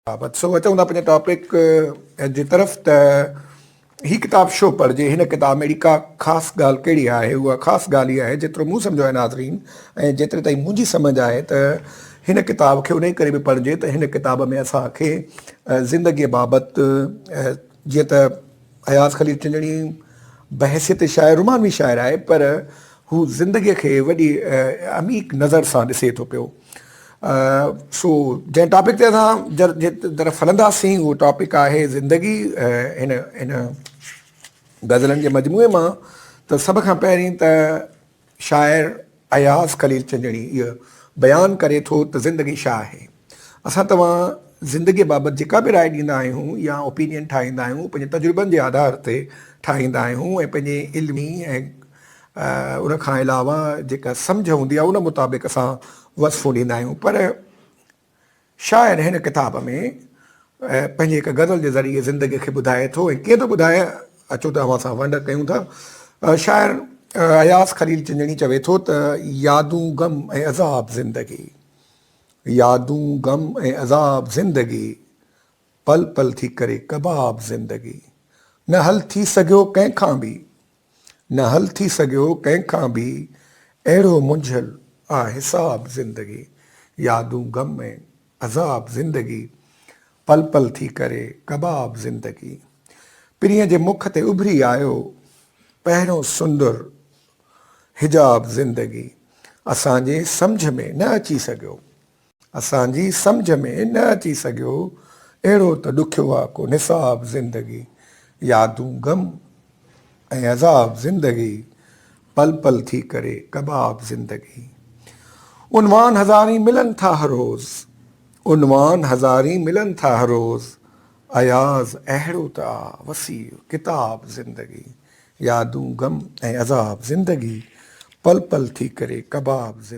بابت سو اچون ٿا پنهنجي ٽاپڪ جي طرف ته هي ڪتاب شو پڙهجي هن ڪتاب ۾ اهڙي ڪا خاص ڳالهه ڪهڙي آهي اها خاص ڳالهه هي آهي جيترو مون سمجهيو آهي ناظرين ۽ جيتري تائين منهنجي سمجهه آهي ته هن ڪتاب کي انهي ڪري به پڙهجي ته هن ڪتاب ۾ اسان کي زندگي بابت جيئن ته اياز خليل چنجڻي بحثيت شاعر رومانوي شاعر آهي پر هو زندگي کي وڏي عميق نظر سان ڏسي ٿو پيو سو جنهن ٽاپڪ تي اسان جي طرف هلنداسين اهو ٽاپڪ آهي زندگي هن هن غزلن جي مجموعي مان ته سڀ کان پهرين ته شاعر اياز خليل چنجڻي اهو بيان ڪري ٿو ته زندگي ڇا آهي اسان توهان زندگي بابت جيڪا به راء ڏيندا آهيون يا اوپينين ٺاهيندا آهيون پنهنجي تجربن جي آڌار تي ٺاهيندا آهيون ۽ پنهنجي علمي ۽ ان کان علاوه جيڪا سمجهه هوندي آهي ان مطابق اسان وصفون ڏيندا آهيون پر شاعر هن ڪتاب ۾ پنهنجي هڪ غزل جي ذريعي زندگي کي ٻڌائي ٿو ۽ ڪيئن ٿو ٻڌائي اچو ته اوهان سان ونڊ ڪيون ٿا شاعر اياز خليل چنجڻي چوي ٿو ته يادون غم ۽ عذاب زندگي يادون غم ۽ عذاب زندگي پل پل ٿي ڪري ڪباب زندگي نه حل ٿي سگهيو ڪنهن کان به نه حل ٿي سگهيو ڪنهن کان به اهڙو منجهيل آ حساب زندگي يادون غم ۽ عذاب زندگي پل پل ٿي ڪري ڪباب زندگي پرينء جي مک تي اڀري آيو پهريون سندر حجاب زندگي اسان جي سمجهه ۾ نه اچي سگهيو. اسان جي سمجهه ۾ نه اچي سگهيو، اهڙو ته ڏکيو آ ڪو نصاب زندگي، يادون غم ۽ عذاب زندگي، پل پل ٿي ڪري ڪباب زندگي. عنوان هزارين ملن ٿا هر روز، عنوان هزارين ملن ٿا هر روز، اياز اهڙو ته آ وسيع ڪتاب زندگي، يادون غم ۽ عذاب زندگي، پل پل ٿي ڪري ڪباب زندگي.